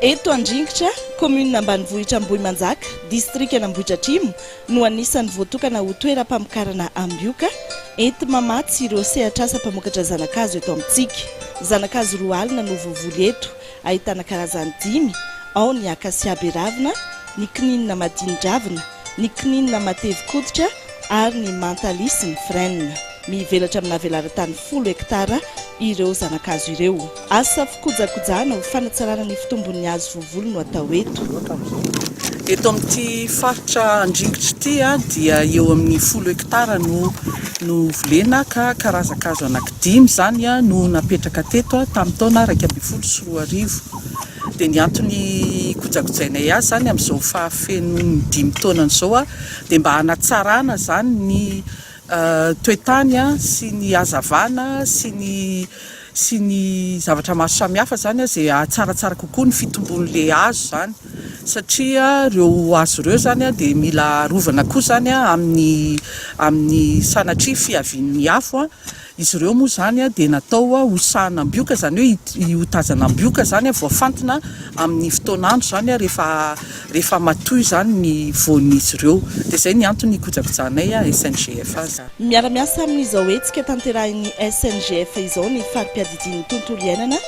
Eto Andringitra, kaominina ambanivohitra Ambohimanjaka, distrikan'Ambohidratrimo, no anisan'ny voatokana ho toeram-pamokarana ambioka, enti-mamatsy ireo sehatr'asa mpamokatra zana-kazo eto amintsika. Zana-kazo roa alina no voavoly eto. Ahitana karazany dimy, ao ny akasia be ravina, ny kininina madinin-dravina, ny kininina matevy koditra ary ny mantalia sy ny frêne. Mivelatra amina velaran-tany folo hektara ireo zana-kazo ireo. Asa fikojakojana ho fanatsarana ny fitombon'ny hazo voavoly no atao eto. Eto amin'ity faritra Andringitra ity dia eo amin'ny folo hektara no volena ka karazan-kazo anaky. Dimy izany no napetraka teto tamin'ny taona iraika ambin'ny folo sy roa arivo. Dia ny antony hikojakojainay azy izany amin'izao fahafenoan'ny dimy taonany izao dia mba hanatsarana izany ny toetany sy ny hazavana sy ny sy ny zavatra maro samihafa izany izay hahatsaratsara kokoa ny fitombon'ilay hazo izany. satria ireo hazo ireo izany dia mila arovana koa izany amin'ny amin'ny sanatria fiavian'ny afo, izy ireo moa izany dia natao ho sahan'ambioka izany hoe hi hotazana ambioka izany voafantina amin'ny fotoan'andro izany rehefa rehefa matoy izany ny voan'izy ireo dia izay ny antony hikojakojahanay SNGF azy. Miara-miasa amin'izao hetsika tanterahin'ny SNGF izao ny fari-piadidian'ny tontolo iainana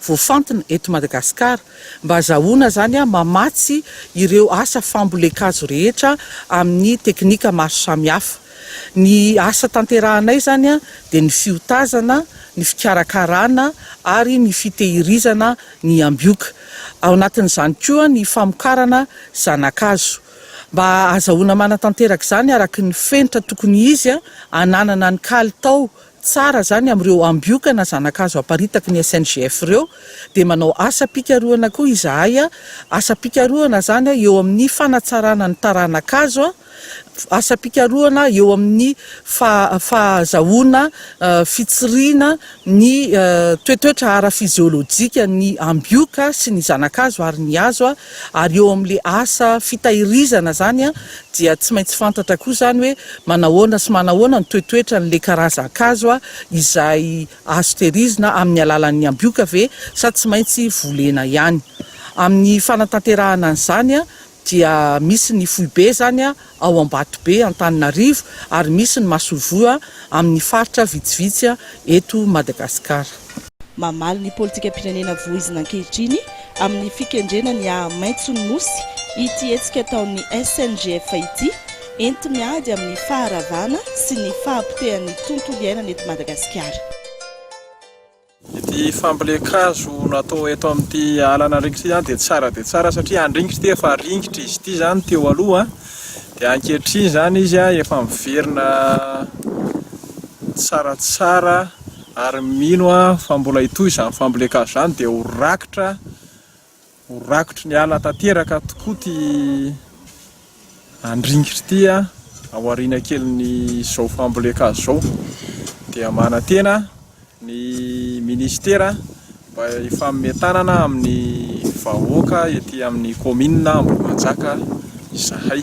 voafantina eto Madagasikara mba azahoana izany mamatsy ireo asa fambolen-kazo rehetra amin'ny teknika maro samihafa. Ny asa tanterahanay izany dia ny fiotazana, ny fikarakarana ary ny fitehirizana ny ambioka. Ao anatin'izany koa ny famokarana zana-kazo. Mba azahoana manatanteraka izany araka ny fenitra tokony izy hananana ny kalitao Tsara zany amin'ireo ambioka na zanakazo aparitaky ny SNGF ireo dia manao asam-pikarohana koa izahay, asam-pikarohana zany eo amin'ny fanatsarana ny taranakazo, asam-pikarohana eo amin'ny fahazahoana fitsiriana ny toetoetra ara-fizeolojikan'ny ambioka sy ny zanakazo ary ny hazo ary eo amin'ilay asa fitahirizana zany dia tsy maintsy fantatra koa izany hoe manahoana sy manahoana ny toetoetra an'ilay karazan-kazo izay azo tehirizina amin'ny alalan'ny ambioka ve sa tsy maintsy volena ihany. Amin'ny fanatanterahana an'izany dia misy ny foibe izany ao Ambatobe, Antananarivo, ary misy ny masoivoho amin'ny faritra vitsivitsy eto Madagasikara. Mamaly ny politikam-pirenena voizina ankehitriny amin'ny fikendrena ny aha-maitson'ny Nosy ity hetsika ataon'ny SNGF ity, enti-miady amin'ny faharavana sy ny fahapotehan'ny tontolo iainana eto Madagasikara. Ity fampilen-kazo natao eto amin'ity ala Anandringitra ity izany dia tsara dia tsara satria Andringitra ity efa ringitra izy ity izany teo aloha dia ankehitriny izany izy efa miverina tsaratsara Ary mino aho fa mbola hitohy izany fambolen-kazo izany dia ho rakitra, ho rakotry ny ala tanteraka tokoa ity andringitra ity ao aoriana kelin'izao fambolen-kazo izao. Dia manantena ny Minisitera mba hifanome tanana amin'ny vahoaka ety amin'ny kaominina Ambohimanjaka izahay.